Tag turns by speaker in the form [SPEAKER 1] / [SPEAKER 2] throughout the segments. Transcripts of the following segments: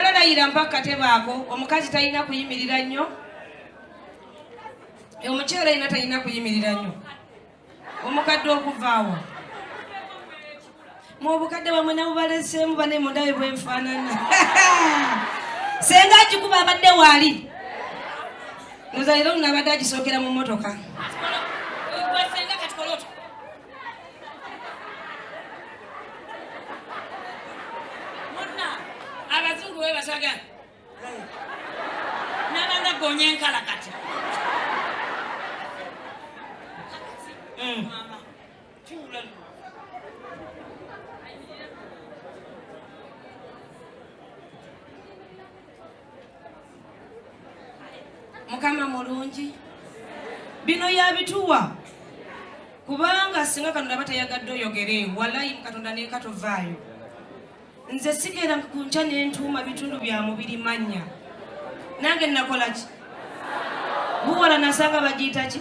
[SPEAKER 1] Layira mpa katebe ako omukazi talina kuyimirira nnyo omukyala yina talina kuyimirira nnyo omukadde okuvaawo mu obukadde bamwe nabubaleseemu bane mundawe bwenfaanana senga agikuba abadde waali nozalira olunabadde agisookera mu motoka muna abazungu webasaga nabanga gonya enkala kati mukama mulungi bino yabituwa kubanga singa katonda aba tayagadde oyogere walayi mukatonda neka tovaayo nze sigera kunkya nentuuma bitundu bya mubiri mannya nange nakolaki buwala nasanga bagiyitaki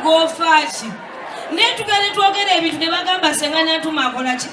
[SPEAKER 1] ng'ofaaki naye tugende twogera ebintu ne bagamba senga nantuma akola ki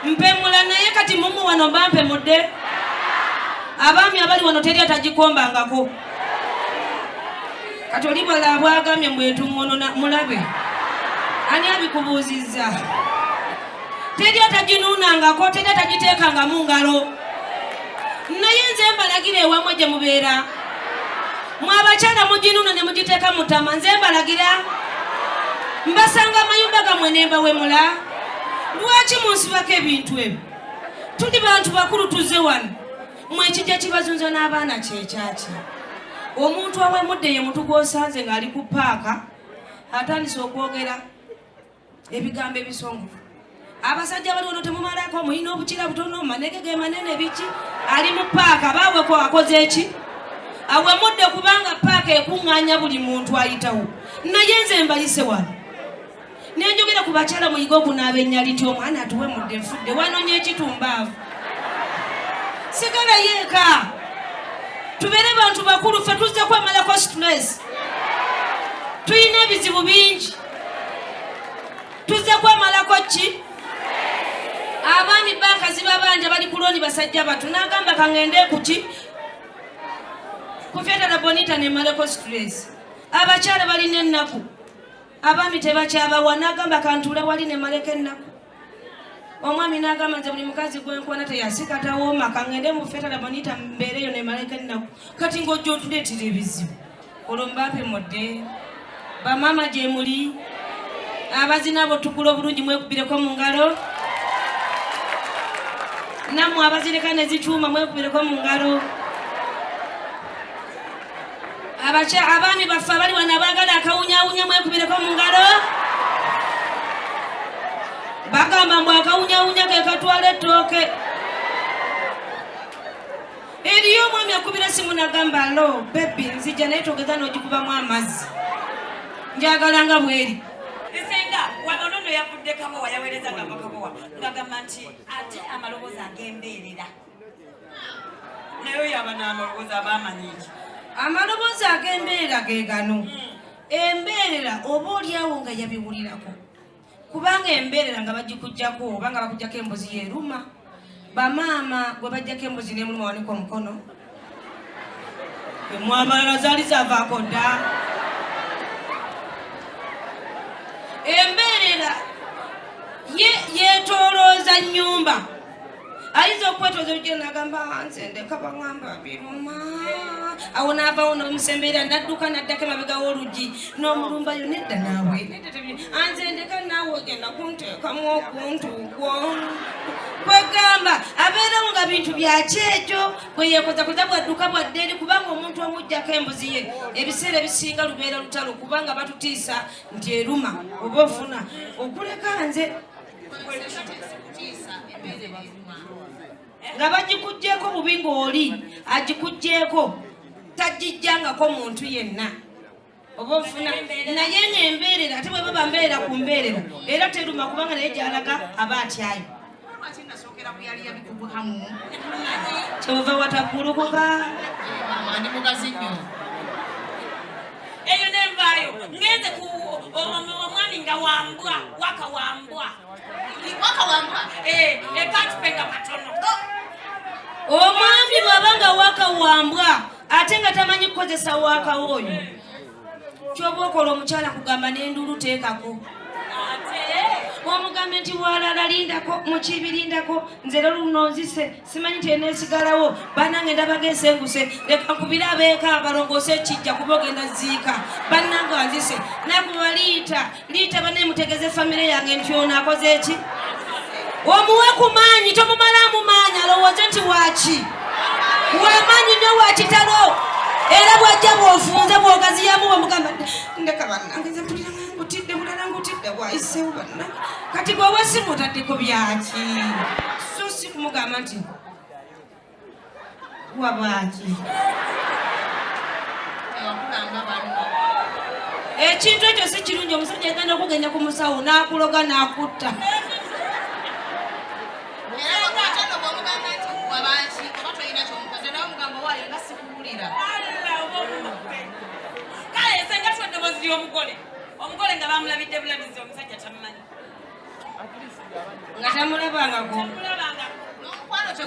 [SPEAKER 1] mpemula naye kati mumu wano mba mpemudde abaami abali wano teri atagikombangako kati oli bwala abwagambye mbwetumununa mulabe ani abikubuuzizza teri ataginuunangako teri atagiteekangamu ngalo naye nze mbalagira ewamwe gye mubeera Mwe abakyala muginuna ne mugiteeka mu ttama nze mbalagira mbasanga amayumba gammwe ne mbawemula lwaki munsibako ebintu ebyo tuli bantu bakulu tuzze wano mwe ekijja kibazunza n'abaana kyekyaki omuntu awemudde ye mutu gw'osanze ng'ali ku paaka atandise okwogera ebigambo ebisongovu abasajja bali wano temumalako mulina obukira butono manege ge manene biki ali mu paaka baweko akoze eki awemudde kubanga paaka ekuŋŋanya buli muntu ayitawo naye nze mbayise wano nenjogera ku bakyala muyiga okunaaba enyaliti omwana atuwe mudde nfudde wanonya ekitumbaavu sigala yeeka tubeere bantu bakulu fe tuzze kwemalako situlesi tulina ebizibu bingi tuzze kwemalako ki abaami banka zibabanja bali kuloni basajja batu nagamba kangende kuki kufyatala bonita nemaleko stress abakyala balina ennaku abaami tebakyabawa nagamba kantuula wali nemaleko ennaku omwami nagamba nze buli mukazi gwenkwana teyasika tawooma kangende mufetalabonita mbeereyo nemalaika ennaku kati ngaojja otuleetera ebizibu olwo mbape mudde bamaama gyemuli abazina abo tukula obulungi mwekubireko mu ngalo nammwe abazireka nezicuuma mwekubireko mu ngalo abakya abaami baffe abali wano abaagala akawunyawunya mwekubireko mu ngalo bagamba mbu akawunyawunya ke katwala ettooke eriyo omwami akubira simu nagamba lo bebi nzija naye togeza n'ogikubamu amazzi njagala nga bweri esenga
[SPEAKER 2] wanonono yavudde kabowa yawereza nga makabowa ngagamba nti ate amaloboozi agembeerera naye oyo abana amaloboozi aba amanyi ki amaloboozi
[SPEAKER 1] ag'embeerera ge gano hmm. embeerera oba olyawo nga yabiwulirako kubanga embeerera nga bagikugjako oba nga bakugjako embuzi yeruma bamaama gwe bajjako embuzi nemuluma wanika omukono emwamalala zaali zavaako dda embeerera yetolooza nyumba ayinza okwetooza olugero nagamba ah, nze ndeka baŋamba biruma awo naavawo nomusembeera nadduka naddako emabega w'oluggi n'omulumba yo nedda naawe ah, nze ndeka naawe ogenda kunteekamu okuntu kwo kwegamba abeerawo nga bintu byakyejo kweyekoza koza bwadduka bwadde eri kubanga omuntu omujjako embuzi ye ebiseera ebisinga lubeera lutalo kubanga batutiisa nti eruma oba ofuna okuleka nze nga bagikugyeko bubi ngaoli agikugyeko tajijjangako muntu yenna oba ofuna naye nga embeerera ate bwe baba mbeerera ku mbeerera era teruma kubanga naye gyalaga aba atyayo kyova watagulukuka
[SPEAKER 3] ndi mugazi nnyo
[SPEAKER 2] eyo nenvaayo ngenze ku omwami nga wambwa waka wambwa waka wambwa ekatupenda eh, eh, katono oh. omwami
[SPEAKER 1] bwaba nga waka wambwa ate nga tamanyi kukozesa wakawooyo kyoba okola omukyala kugamba n'enduulu teekako omugambe nti walala lindako mukibirindako nze era luno nzise simanyi nti enesigalawo banange ndabaga esenguse leka nkubire abeeka balongoose ekijja kuba ogenda ziika banange anzise naye kubaliyita Liita bane mutegeze famire yange nti ono akoze eki omuwe ku maanyi tomumalaamu maanyi alowooze nti waaki wamaanyi nyo wakitalo era bwajja bwofunze bwogaziyamu bwemugamba ndeka banange mpulirangutidde bulala ngutidde bwayisewo banna kati bwewesimu otadde ku byaki so si kumugamba nti kuwa bwaki ekintu ekyo si kirungi omusajja agenda okugenda ku musawo n'akuloga n'akutta kale esenga
[SPEAKER 2] twadde boziri omugole omugole nga bamulabidde bulabizi omusajja tamumanyi
[SPEAKER 1] nga tamulabangako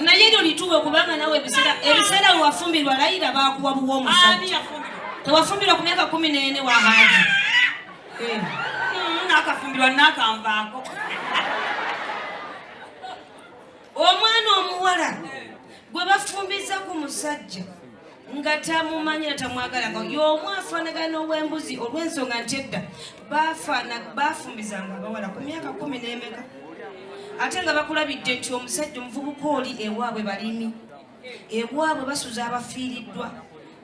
[SPEAKER 1] naye lyo lituwe kubanga nawe ebiseera ebiseera wewafumbirwa layira bakuwa buwa omusajja tewafumbirwa ku myaka kumi neene wahaji eh. hmm,
[SPEAKER 2] nakafumbirwa nakanvaako
[SPEAKER 1] omwana omuwala gwe bafumbiza ku musajja nga tamumanyi na tamwagalanga y'omu afaanagana n'owembuzi olw'ensonga nti edda baafumbizanga abawala ku myaka kumi n'emeka ate nga bakulabidde nti omusajja omuvubuka oli ewaabwe balimi ewaabwe basuza abafiiriddwa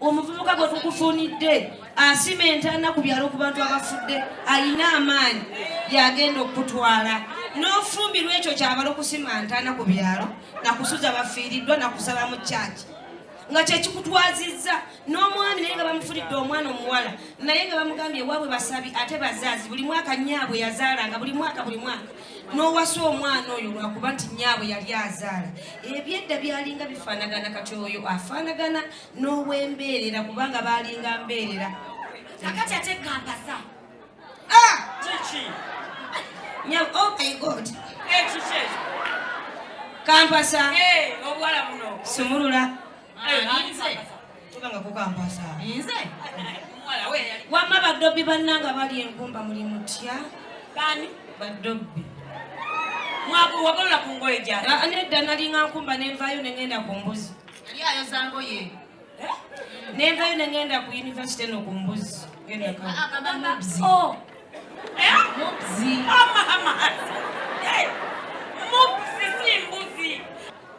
[SPEAKER 1] omuvubuka gwe tukufunidde asima entaana ku byalo ku bantu abafudde alina amaanyi yagenda okukutwala n'ofumbirwa ekyo kyabala okusima ntaana ku byalo nakusuza bafiiriddwa nakusaba mu kyaki nga kyekikutwazizza n'omwami naye nga bamufulidde omwana omuwala naye nga bamugambye ewaabwe basabi ate bazaazi buli mwaka nyaabwe yazaalanga buli mwaka buli mwaka n'owasa omwana oyo lwakuba nti nyaabwe yali azaala ebyedda byalinga bifaanagana kati oyo afaanagana n'owembeerera kubanga baalinga mbeerera akati ate
[SPEAKER 2] gampasa Ah! Kiki?
[SPEAKER 1] Nya oh my god. Eh kiki? Kampasa. Eh
[SPEAKER 2] obwala buno. Sumulula.
[SPEAKER 1] Eh ah, nze.
[SPEAKER 3] Tubanga ku kampasa. Nze. Mwala we
[SPEAKER 1] yali. Wamma badobbi bannanga bali engumba muli mutya. Bani?
[SPEAKER 2] Badobbi. Mwabu wagolola ku ngoye gyali. Ah, nedda nalinga nkumba
[SPEAKER 1] ne nvayo ne ngenda ku mbuzi. Yali ayoza
[SPEAKER 3] ngoye.
[SPEAKER 1] nenvayo nengenda ku univesity eno
[SPEAKER 3] ku
[SPEAKER 2] mbuzi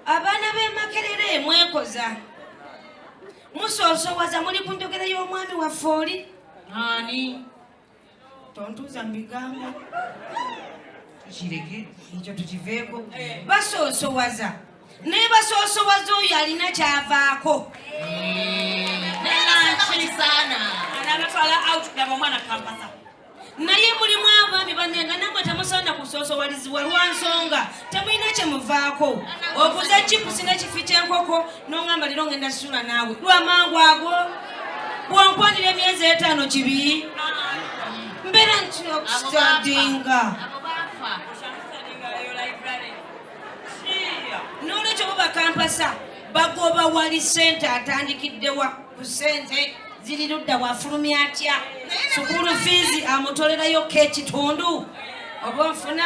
[SPEAKER 2] abaana
[SPEAKER 1] b'emakerere mwekoza musoosowaza muli ku njogera y'omwami waffe oli ani tontuuza mu bigambo tukireke
[SPEAKER 3] ekyo tukiveeko
[SPEAKER 1] basoosowaza naye basoosowaza oyo alina kyavaako
[SPEAKER 2] naye
[SPEAKER 1] mulimu abaami banenga namwe temusaana kusoosowalizibwa lwa nsonga temulina kyemuvaako okuza chipusi nekifi kyenkoko nongamba lero ngenda sula naawe lwamangu ago bwonkwanira emyezi etaano kibi mbeera nti okustadinga nolwekyo bo bakampasa bagoba wali sente atandikiddewa ku sente ziri ludda wafulumya atya sukulu fiizi amutolerayo kekitundu oba nfuna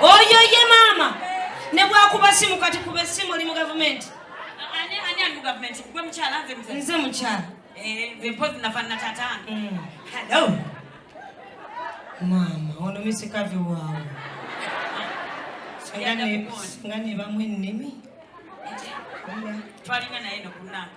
[SPEAKER 1] oyo ye maama ne bwakuba simu kati kuba esimu oli mu gavumenti
[SPEAKER 2] nze mukyala
[SPEAKER 1] eh,
[SPEAKER 2] mm.
[SPEAKER 1] maama ono misikavi waawe nga nebamu ennimi
[SPEAKER 2] twalina naye nokunanga